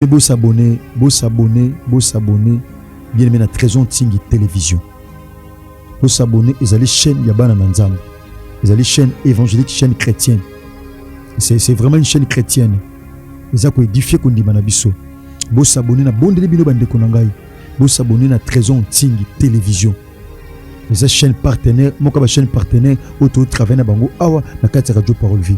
Pe bo s'abonner, bo s'abonner, bo s'abonner bien aimé na Trezon Tsingi Television. Bo s'abonner ezali chaîne ya bana na Nzambe. Ezali chaîne évangélique, chaîne chrétienne. C'est c'est vraiment une chaîne chrétienne. Eza ko édifier ko ndima na biso. Bo s'abonner na bondeli bino ba ndeko na ngai. Bo s'abonner na Trezon Tsingi Television. Eza chaîne partenaire, moka ba chaîne partenaire oyo to travailler na bango awa na kati ya Radio Parole Vie.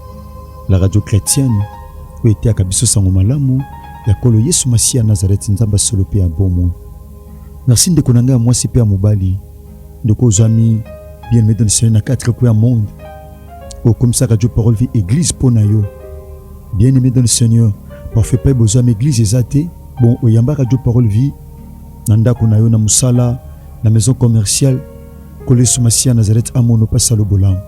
La radio chretienne oyo eteyaka biso sango malamu ya kolo Yesu Masiya Nazareti, Nzambe ya solo mpe ya bomoi. Merci ndeko na ngai ya mwasi mpe ya mobali, ndeko ozwami bien aimé dans le Seigneur na quatre coins ya monde, okomisa radio parole vie église mpo na yo bien aimé dans le Seigneur. Parfait mpe bozwami église eza te, bon oyamba radio parole vie na ndako na yo, na mosala, na maison commerciale Nkolo Yesu Masiya Nazareth amono pasi alobola.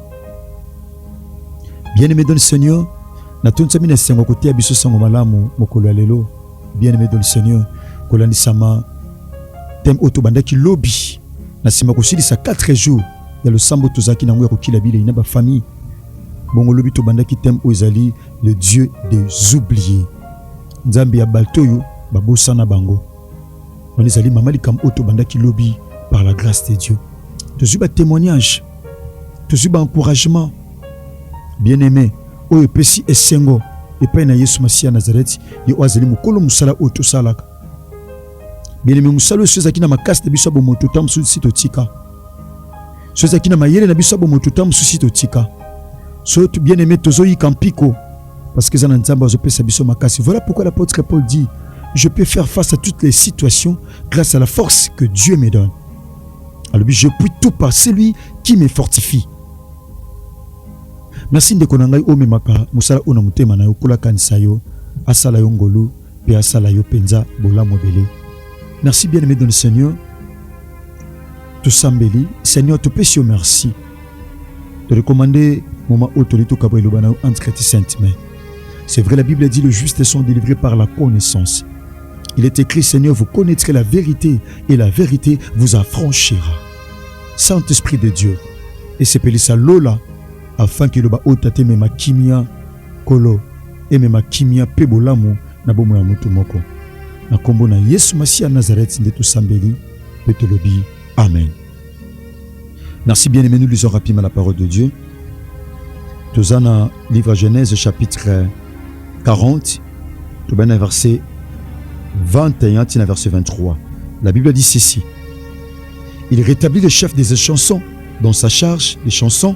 Bien-aimé dans le Seigneur, natondisami na esengo koteya biso sango malamu mokolo ya lelo. Bien-aimé dans le Seigneur, kolandisama teme oyo tobandaki lobi na nsima kosilisa 4 jours ya losambo tozalaki na yango ya kokila bilei na bafamille bongo lobi tobandaki teme oyo ezali le dieu des oublier nzambe ya bato oyo babosana bango wana ezali mama likambo oyo tobandaki lobi par la grâce de dieu tozwi batémoignage tozwi baencouragement bien aimé oyo epesi esengo epai na yesu masiya nazareti ye oyo azali mokolo mosala oyo tosalaka bien aimé mosala oyo so ezalaki na makasi na biso ya bomoto ntango mosusu si totika soki ezalaki na mayele na biso ya bomoto ntango mosusu totika so bien aimé tozoyika mpiko parce que eza na nzambe azopesa biso makasi voilà pourquoi l'apôtre paul dit je peux faire face à toutes les situations grâce à la force que dieu me donne alobi je puis tout par celui qui me fortifie merci ndeko na ngai omemaka mosala oyo na motema na yo kolakanisa yo asala yo ngolu mpe asala yo mpenza bolamu ebele merci bien aimé dans le seigneur tosambeli seigneur topesi yo merci torekomande moma oyo toli tokaba eloba na yo antikati sainte mai c'est vrai la bible dit le juste sont délivrés par la connaissance il est écrit seigneur vous connaîtrez la vérité et la vérité vous affranchira saint esprit de dieu esepelisa lola afin que eloba oyo tatemema kimia Nkolo, emema kimia mpe bolamu na bomoi ya moto moko. Na nkombo na Yesu Masiya ya Nazareth nde tosambeli mpe tolobi amen. Merci bien aimé, nous lisons rapidement la parole de Dieu. Toza na livre Genèse chapitre 40, toza na verset 21 tina verset 23. La Bible dit ceci. Il rétablit le chef des chansons dans sa charge des chansons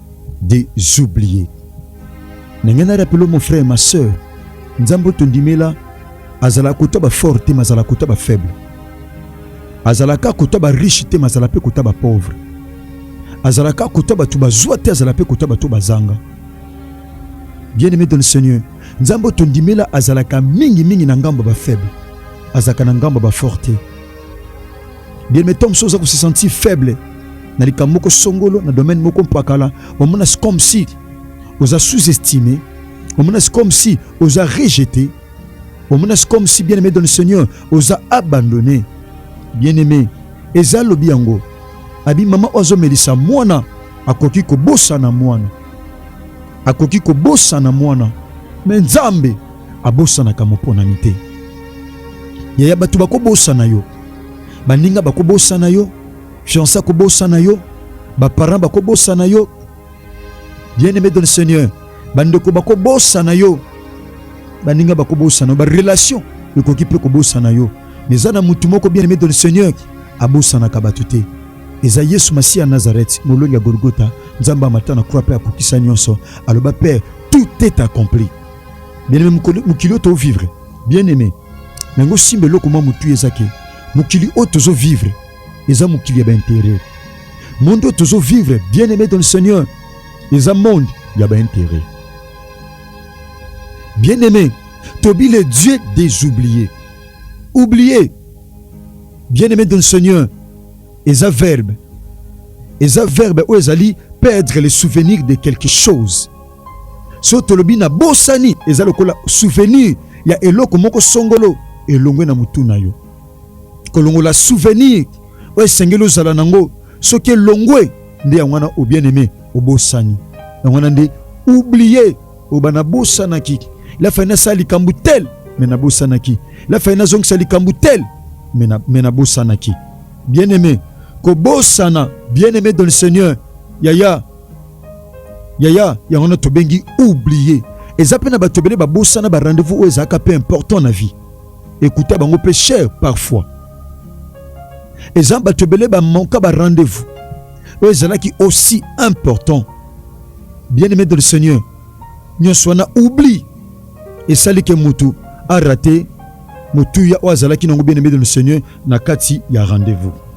des oubliés na ngai na rapelo mon frère ma sœur nzambe oyo tondimela azalaka kota bafort te ma azalaka kota bafaible azalaka kota bariche te ma azala mpe kota bapauvre azalaka kota bato bazwa te azala mpe kota bato bazanga bien aimé dans le seigneur nzambe oyo tondimela azalaka mingimingi na ngambo bafaible azalaka na ngambo bafort te bien mais ntango mosusu oza kosesentir faible na likambo moko songolo na domaine moko mpakala omona se comme si oza sous-estime omona se comme si oza rejete omona se comme si bien aimé dans le seigneur oza abandonné bien aimé eza lobi yango abi mama oyo azomelisa mwana akoki kobosana mwana akoki kobosana mwana me nzambe abosanaka moponami te. Yaya, bato bakobosana yo, baninga bakobosana yo, fianse akobosana yo, baparent bakobosana yo. Bien aime dans le Seigneur, bandeko bakobosana yo, baninga bakobosana yo, barelation ekoki mpe kobosana yo. Mais eza na motu moko bien aime dans le Seigneur abosanaka bato te eza yesu masiya nazareth molongi ya golgota nzambe amata na croix mpe akokisa nyonso aloba père tout est accompli bien aimé mokili oyo vivre bien aimé na yango simba eloko mwa motu eza ke mokili oyo tozo vivre eza mokili ya baintere monde oyo tozo vivre bien aimé dans le seigneur eza monde ya baintere bien aimé tobi le dieu des oubliés oublié bien aimé dans le seigneur eza verbe eza verbe oyo ezali perdre le souvenir de quelque chose So tolobi na bosani, eza lokola souvenir ya eloko moko songolo elongwe na motu na yo. Kolongola souvenir oyo esengeli ozala nango, soki elongwe nde yango wana obien aime obosani yango wana nde oublie oba nabosanaki lafai nasala likambo tel me nabosanaki lafai nazongisa likambo tel me nabosanaki bien aime kobosana bien aime dans le seigneur yaya yaya yango na tobengi oublier eza mpe na bato ebele babosana ba rendez-vous oyo ezalaka mpe important na vie ekuta bango mpe cher parfois eza bato ebele bamanka ba rendez-vous oyo ezalaki aussi important bien aimé de le seigneur nyonso wana oubli esali ke motu arate motuya oyo azalaki nango bien aimé de le seigneur na kati ya rendez-vous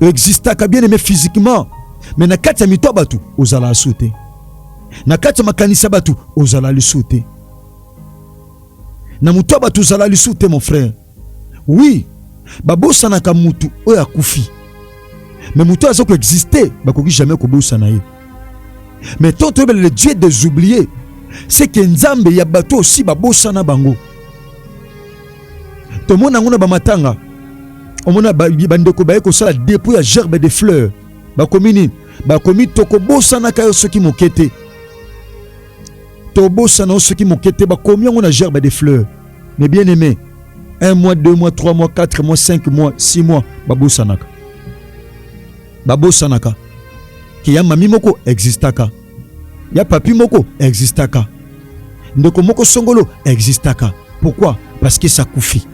existaka bien aime physiquement me na kati ya mito ya bato ozala asu te na kati ya makanisi ya bato ozala lisu te na moto ya bato ozala lisu te mon frère oui babosanaka motu oyo akufi me moto oyo aza koexiste bakoki jamais kobosana ye me to toyebela le dieu des oublier seke nzambe ya bato osi babosana bango tomona yango na bamatanga omona bandeko baye kosala depo ya gerbe de fleur bakomi nini bakomi tokobosanaka yo soki moke te tobosana yo soki moke te bakomi yango na gerbe de fleur mais bien aimé un mois deux mois trois mois quatre mois cinq mois six mois babosanaka babosanaka ke ya mami moko existaka ya papi moko existaka ndeko moko songolo existaka pourquoi parce que ça akufi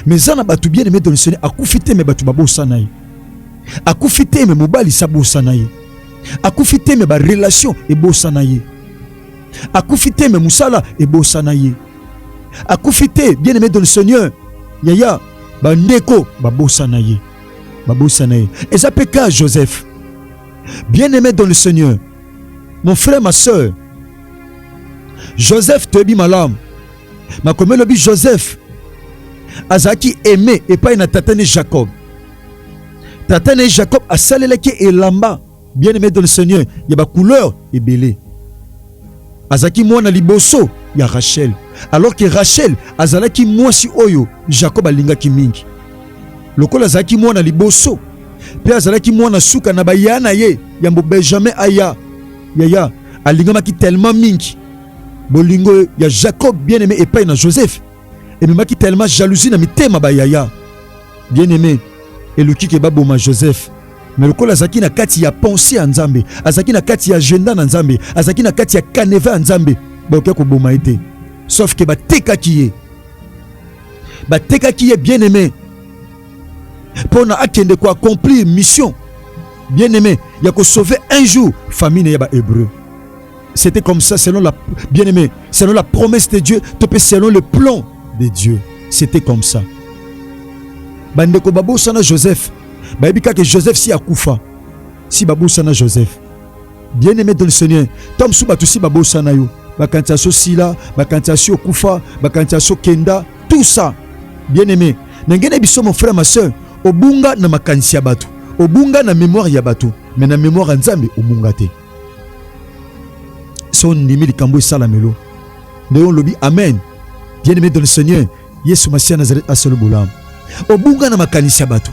mais eza na bato bien aimé dans le seigneur akufi te me bato babosana ye akufi te me mobali sa bosana ye akufi te me barelation ebosana ye akufi te me mosala ebosana ye akufi te bien aimé dans le seigneur yaya bandeko babosana ye babosana ye eza mpe ka joseph Bien-aime dans le Seigneur, mon frère, ma soeur, Joseph toyebi malamu makomi elobi Joseph azalaki aime epai na tata ne Jacob. Tata ne Jacob asalelaki elamba bien-aime dans le Seigneur ya ba couleur ebele. Azalaki mwana liboso ya Rachel, alors que Rachel azalaki mwasi oyo Jacob alingaki mingi. Lokola azalaki mwana liboso mpe azalaki mwana suka na baya na ye yambo Benjamin aya yaya alingamaki telema mingi bolingo ya Jacob bien aime epai na Joseph ememaki telema jalousie na mitema bayaya bien aime eluki ke baboma Joseph me lokola azalaki na kati ya pensée ya Nzambe azalaki na kati ya agenda na Nzambe azalaki na kati ya canevas ya Nzambe bakoki koboma ye te sauf ke batekaki ye batekaki ye bien aime pona akende ko accomplir mission bien aimé ya ko sauver un jour famille ya ba hébreu c'était comme ça selon la bien aimé selon la promesse de Dieu to pe selon le plan de Dieu c'était comme ça bandeko babosana Joseph bayebi kaka Joseph si akufa si babosana Joseph bien aimé dans le Seigneur ntango mosusu bato si babosana yo bakanisa so sila bakanisa si okufa bakanisa so kenda tout ça bien aimé Na ngene biso mon frère ma sœur, obunga na makanisi ya bato, obunga na memoire ya bato, mais na memoire ya Nzambe obunga te. So ndimi likambo esalamelo nde olobi amen. Bien aimé dans le Seigneur, Yesu Masiya Nazareth asolo bolamu. Obunga na makanisi ya bato,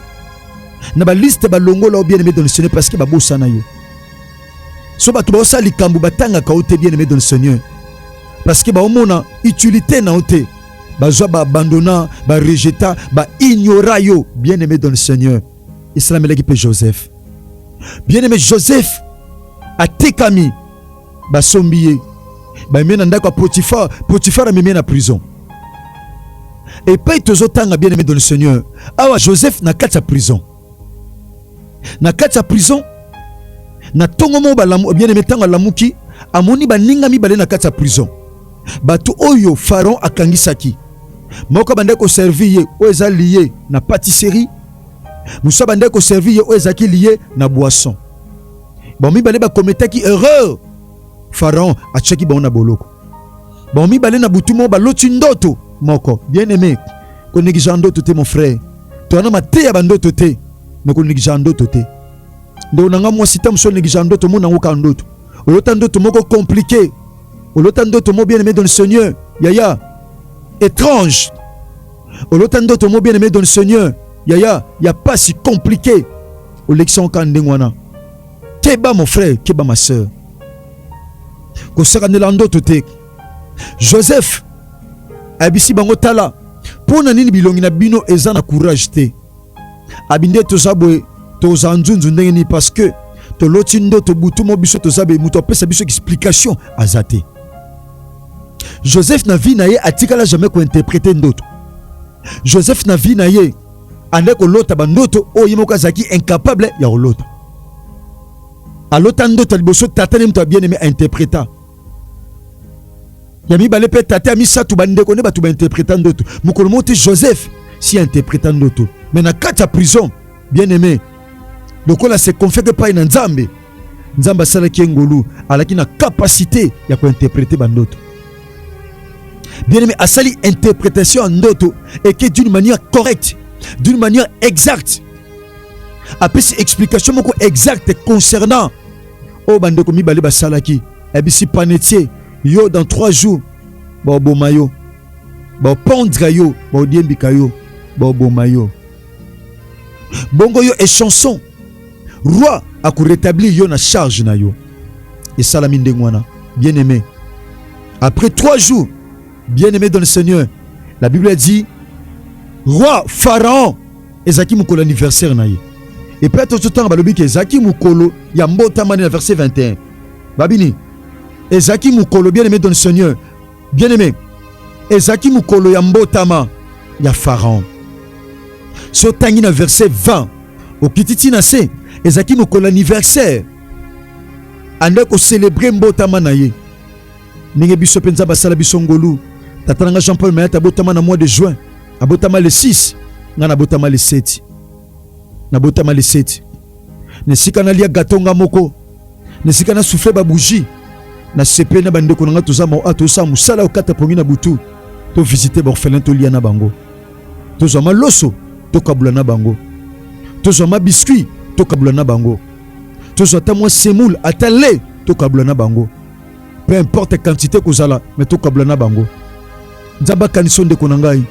na baliste balongola yo bien aimé dans le Seigneur parce que babosana yo. So bato baosala likambo batangaka yo te bien aimé dans le Seigneur parce que baomona utilité na yo te bazwa ba abandonna ba rejeta ba ignora yo bien aimé dans le seigneur esalamelaki mpe joseph bien aimé joseph atekami basombi ye bamemi na ndako ya potifar potifar amemi ye na prison epai tozotanga bien aimé dans le seigneur awa joseph na kati ya prison na kati ya prison na ntongo moko balamu bien aime ntango alamuki amoni baninga mibale na kati ya prison bato oyo pharaon akangisaki moko abandaki koservir ye oyo eza liye na patisserie mosusu abandaki koservir ye oyo ezalaki liye na boisson bango mibale bakometaki erreur pharaon atyaki bango na boloko bango mibale na butu moko baloti ndoto moko. Bien aime, konegligea ndoto te mon frère, toza na mateya bandoto te, me konegligea ndoto te ndeko na ngai mwasi ta mosusu onegligea ndoto mona yango kaka ndoto olota ndoto moko compliqué olota ndoto mo bien aimé dans le seigneur yaya étrange olota ndoto mo bien aimé dans le seigneur yaya ya pasi compliqué olekisa yango kaka ndenge wana Keba mon frère, keba ma sœur. kosakanela ndoto te joseph ayebisi bango tala mpo na nini bilongi na bino eza na courage te abi nde toza boye toza nzunzu ndenge nini parce que toloti ndoto butu mo biso toza be moto apesa biso explication aza te joseph na vie na ye atikala jamais kointerprete ndoto joseph na vie na ye anda kolota bandoto oyo ye moko azalaki incapable ya kolota. Alota ndoto liboso tata ne moto bien aime interpreta ya mibale mpe tata ya misato bandeko nde bato bainterpreta ndoto. Mokolo moko te Joseph si interpreta ndoto, me na kati ya prison bien aime lokola se confie epai na Nzambe Nzambe asalaki ye ngolu, alaki na capacité ya ko interpréter ba ndoto. Bien aimé, asali interprétation ya ndoto et que d'une manière correcte, d'une manière exacte. Apesi explication moko exacte concernant oyo bandeko mibale basalaki. Abisi panetie yo dans trois jours baoboma yo baopondre yo baodiembika yo baoboma yo bongo yo echanson roi ako retablir yo na charge na yo esalami ndenge wana bien aimé après trois jours bien aimé dans le seigneur la bible a dit roi pharaon ezalaki mokolo anniversaire na ye epai tozotanga balobi ke ezalaki mokolo ya mbotama na verset 21 babini ezalaki mokolo bien aimé dans le seigneur Bien aime, ezalaki mokolo ya mbotama ya Pharaon. So tangi na verset 20, okiti ti na se, ezalaki mokolo anniversaire. Ande ko célébrer mbotama na ye. Ndenge biso penza basala biso ngolu. Tata na nga Jean-Paul Mayata abotama na mois de juin. Abotama le 6, nga na botama le 7. Na botama le 7. na esika nalia gato nga moko, na esika na souffle ba bougie, na sepeli na bandeko na nga toza ah, tosala mosala okata pongi na butu, to visite baorphelin tolia na bango, tozwa maloso tokabula na bango, tozwa ma biscuit tokabula na bango, tozwa ata mwa semoule ata lait tokabula na bango, peu importe quantité kozala mais tokabula na bango. Nzambe akanisa ndeko na ngai,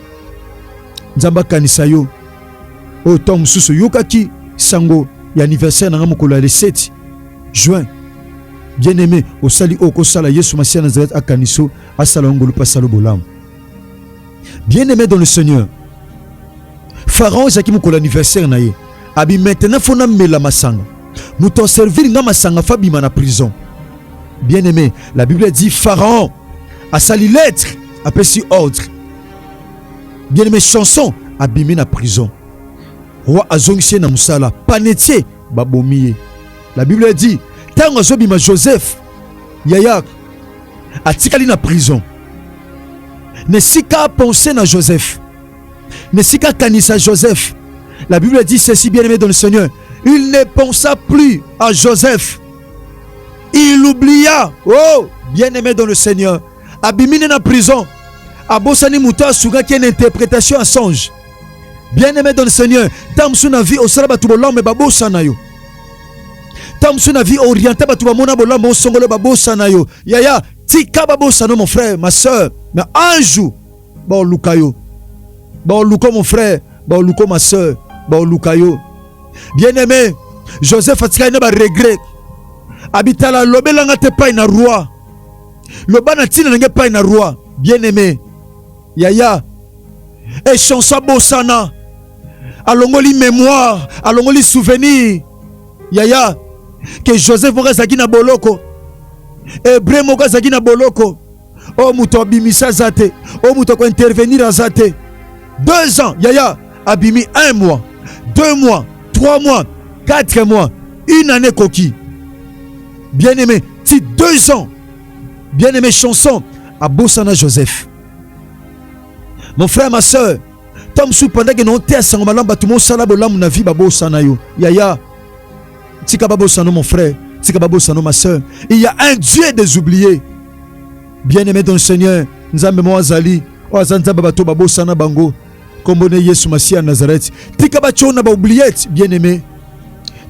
Nzambe akanisa yo. oyo ntango mosusu oyokaki sango ya anniversaire na ngai mokolo ya le 7 juin bien aime osali oyo okosala yesu masiya nazareth akaniso asala yo ngolu mpe asala bolamu bien aime dans le seigneur pharaon ezalaki mokolo anniversaire na ye abi maintenant fo namela masanga moto aservir ngai masanga fo abima na prison bien aime la bible dit pharaon asali lettre apesi ordre bien aimé chanson abimi na prison roi azongisi ye na mosala panetie babomi ye la bible a dit ntango azobima joseph yaya atikali na prison na esika apense na joseph na esika akanisa joseph la bible a dit ceci bien aimé dans le seigneur il ne pensa plus à joseph il oublia oh bien aimé dans le seigneur abimi nde na prison abosani moto asukaki ye na interpretation ya songe bien aimé dans le seigneur ntango mosusu na vie osala bato bolame babosana yo ntango mosusu na vie oriente bato bamona bolame osongolo babosana yo yaya tika babosana yo mon frère ma soeur na un jour baoluka yo baoluka mon frère baoluka ma soeur baoluka yo bien aimé joseph atikali na baregret abitala alobelanga te pai na roi loba na ntina na ngai epai na roi bien aime yaya echansa bosana alongoli mémoire alongoli souvenir yaya ke joseph moko azalaki na boloko hebreu moko azalaki na boloko oyo moto abimisa aza te oyo moto akointervenir aza te deux ans yaya abimi un mois deux mois trois mois quatre mois une année koki bien aimé ti deux ans bien aimé chanson abosana joseph mon frère ma soeur ntango mosusu pendaki na oteya sango malamu bato mosala bolamu na vi babosana yo yaya tika babosano mon frère tika babosano ma soeur il y a un dieu des oubliés bien aimé dans le seigneur nzambe moko azali oyo aza nzambe bato babosana bango nkombo ne yesu masiya ya nazareti tika bationa baoubliete bien aimé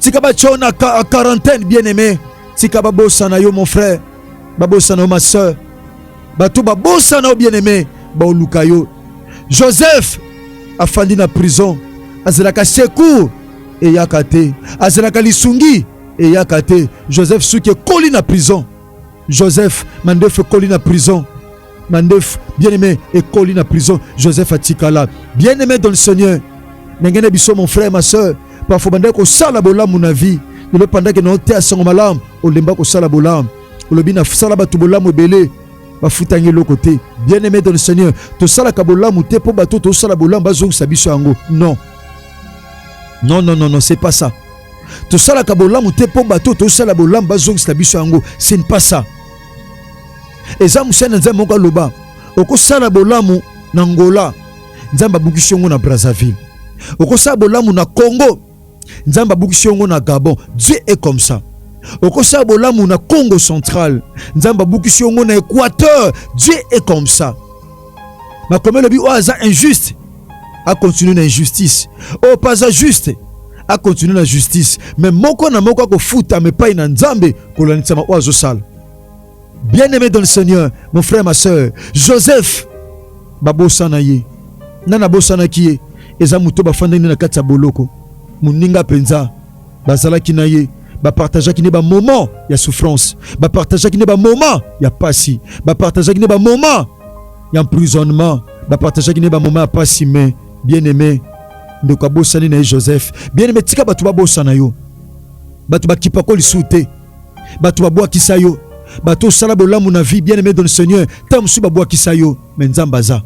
tika bationa a quarantaine bien aimé tika babosana yo mon frère babosana yo ma soeur bato babosana yo bien aimé baoluka yo joseph afandi na prison azalaka secour eyaka te azalaka lisungi eyaka te joseph suki ekoli na prison Joseph mandefu ekoli na prison mandefu bien aimé ekoli na prison Joseph atikala bien aimé dans le Seigneur ndenge na biso mon frère ma soeur parfois bandaki kosala bolamu na vie lelo pandaki na oteya sango malamu olemba kosala bolamu olobi nasala bato bolamu ebele bafutangi eloko te bien aimé dans le Seigneur tosalaka bolamu te mpo bato tosala bolamu bazongisa biso yango non non non non non c'est pas ça tosalaka bolamu te mpo bato oyo tosala bolamu bazongisela biso yango ce n'est pas ça eza mosali na nzambe moko aloba okosala bolamu na ngola nzambe abukisi yango na brazzaville okosala bolamu na congo nzambe abukisi yango na gabon dieu est comme ça okosala bolamu na congo central nzambe abukisi yango na équateur dieu est comme ça makomelo bi oyo aza injuste a continuer na injustice oyo oh, paza juste a continuer na justice mais moko na moko akofutama epai na nzambe kolandisama oyo azosala bien aimé dans le seigneur mon frère ma soeur joseph babosana ye na nabosanaki ye eza moto bafandaki na kati ya boloko moninga mpenza bazalaki na ye bapartageaki nde bamoment ya souffrance bapartageaki nde bamoment ya mpasi bapartageaki nde bamoment ya emprisonnement bapartageaki ne bamoma ya mpasi me bien aime ndeko abosani na ye joseph bien aime tika bato babosana yo bato bakipako lisusu te bato babwakisa yo bato osala bolamu na vie bien aime don seigneur ntango mosusu babwakisa yo me nzambe aza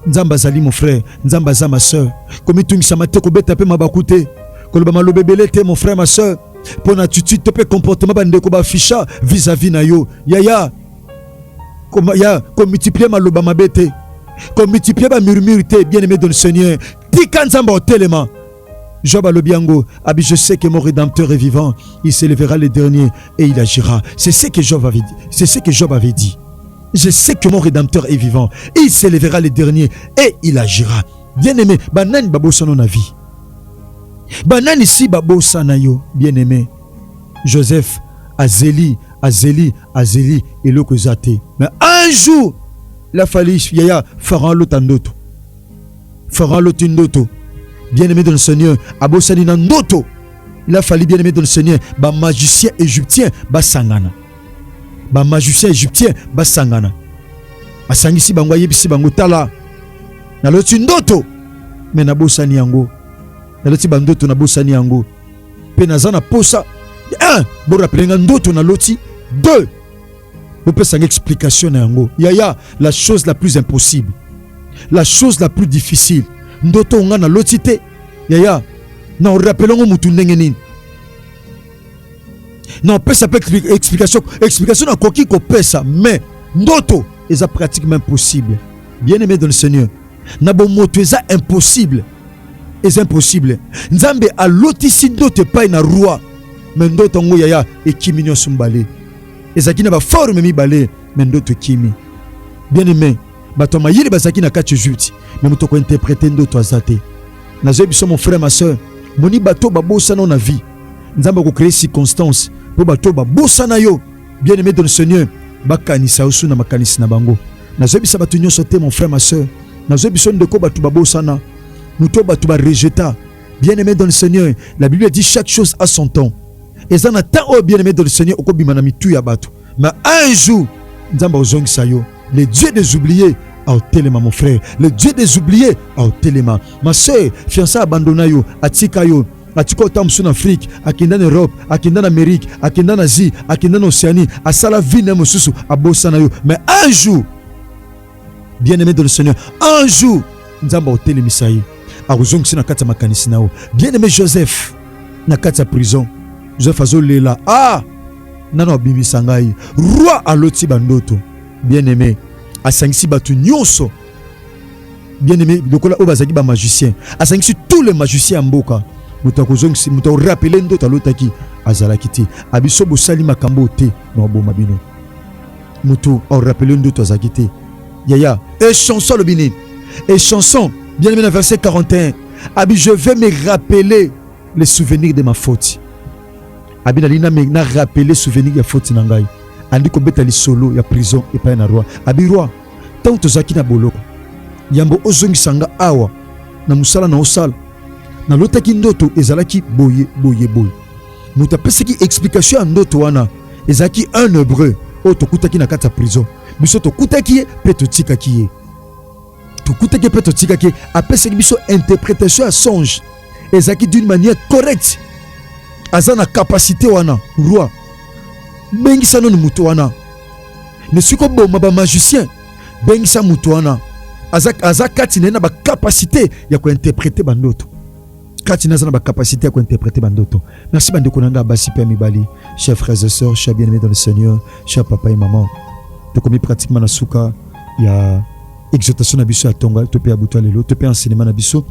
nzambe azali mon frère nzambe aza ma sœur komitungisama te kobeta mpe mabaku te koloba maloba ebele te mon frère ma sœur mpo na attitude to mpe comportement bandeko baafficha vis-à-vis na yo yaya ya komultiplie maloba mabe te komultiplie bamurmure te bien aimé don seigneur tika nzambe otelema Job alobi yango abi je sais que mon rédempteur est vivant il s'élèvera le dernier et il agira c'est ce que Job avait dit c'est ce que Job avait dit je sais que mon rédempteur est vivant il s'élèvera le dernier et il agira bien aimé banani babosana na vie banani si babosana yo bien aimé Joseph azeli azeli azeli eloko eza te mais un jour la fali yaya pharaon alota ndoto pharaon aloti ndoto bien aimé dans le seigneur abosani na ndoto il a fallu bien aimé dans le seigneur bamagicien égyptien basangana bamagicien égyptien basangana asangisi bango ayebisi bango tala naloti ndoto me nabosani yango naloti bandoto nabosani yango mpe naza na posa un borapele nga ndoto na loti deux bopesa nga explication na yango yaya la chose la plus impossible la chose la plus difficile ndoto nga na loti te yaya na orapele ngo motu ndenge nini na opesa mpe explication explication nakoki kopesa mais ndoto eza pratiquement impossible bien aimé dans le seigneur na bomoto eza impossible eza impossible nzambe alotisi ndoto epai na roi me ndoto yango yaya ekimi nyonso mibale ezalaki na baforme mibale me ndoto ekimi bien aime bato ya mayele bazalaki na kati egypte me moto kointerprete ndoto aza te nazoyebi biso mon frère ma soeur moni bato babosana na vie nzambe akokrea circonstance mpo bato babosana yo Bien aimé dans le Seigneur, bakanisa osu na makanisi na bango. Nazoyebisa bato nyonso te, mon frère, ma soeur. Nazoyebisa yo ndeko, bato babosana, moto bato barejeta. Bien aimé dans le Seigneur, la Bible dit chaque chose a son temps. eza na temps oyo bien aimé dans le Seigneur okobima na mitu ya bato, mais un jour Nzambe akozongisa yo. Le Dieu des oubliés aotelema mon frère, le Dieu des oubliés aotelema ma soeur. Fiancé abandonna yo, atika yo atika ota mosusu na afrike akenda na europe akenda na amerike akenda na asie akenda na océanie asala vie na ye mosusu abosana yo mais un jour bien aimé de le seigneur un jour nzambe akotelemisa ye akozongisa na kati ya makanisi na yo bien aimé joseph na kati ya prison joseph azolela ah nano abimisa ngai roi aloti bandoto bien aimé asangisi bato nyonso bien aimé lokola oyo bazalaki bamagicien asangisi tous les magicien ya mboka moto akozongisi moto akorapele ndoto alotaki azalaki te abiso bosali makambo te na oboma bino moto akorapele ndoto azalaki te yaya e chanson alobi nini e chanson bien aimé na verset 41 abi je vais me rappeler les souvenirs de ma faute Abi na lina me na rappeler souvenir ya faute na ngai. Andi kobeta lisolo ya prison epai na roi. Abi roi, ntango tozalaki na boloko, yambo ozongisa nga awa na mosala na osala, nalotaki ndoto ezalaki boye boye boye. Moto apesaki explication ya ndoto wana ezalaki un hebreu oyo tokutaki na kati ya prison. Biso tokutaki ye mpe totikaki ye, tokutaki ye mpe totikaki ye. Apesaki biso interpretation ya songe. ezalaki d'une manière correcte aza na capacité wana roi bengisa nanu moto wana me soki oboma bamagicien bengisa moto wana aza, aza kati na ye na bacapacité ya kointerprete bandoto kati na aza na bacapacité ya kointerprete bandoto merci bandeko na ngai basi mpe ya mibali chers frères et sœurs chers bien aimé dans le seigneur chers papa et maman tokomi pratiquement na suka ya exhortation na biso ya tonga to pe ya butu lelo to pe enseignement na biso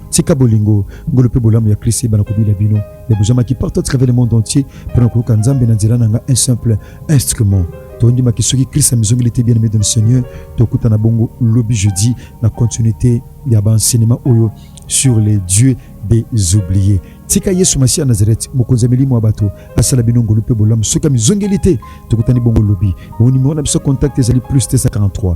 tika bolingo ngolo pe bolamu ya Christ ebana kobila bino ya bozamaki partout à travers le monde entier pona koyoka nzambe na nzela na nga un simple instrument tondimaki soki Christ amizongeli te bien aimé dans le Seigneur tokutana bongo lobi jeudi na continuité ya ba enseignement oyo sur les dieux des oubliés tika yesu masiya nazareti mokonzi ya milimo ya bato asala bino ngolu mpe bolamu soki amizongeli te tokutani bongo lobi bonimero na biso contact ezali plus 243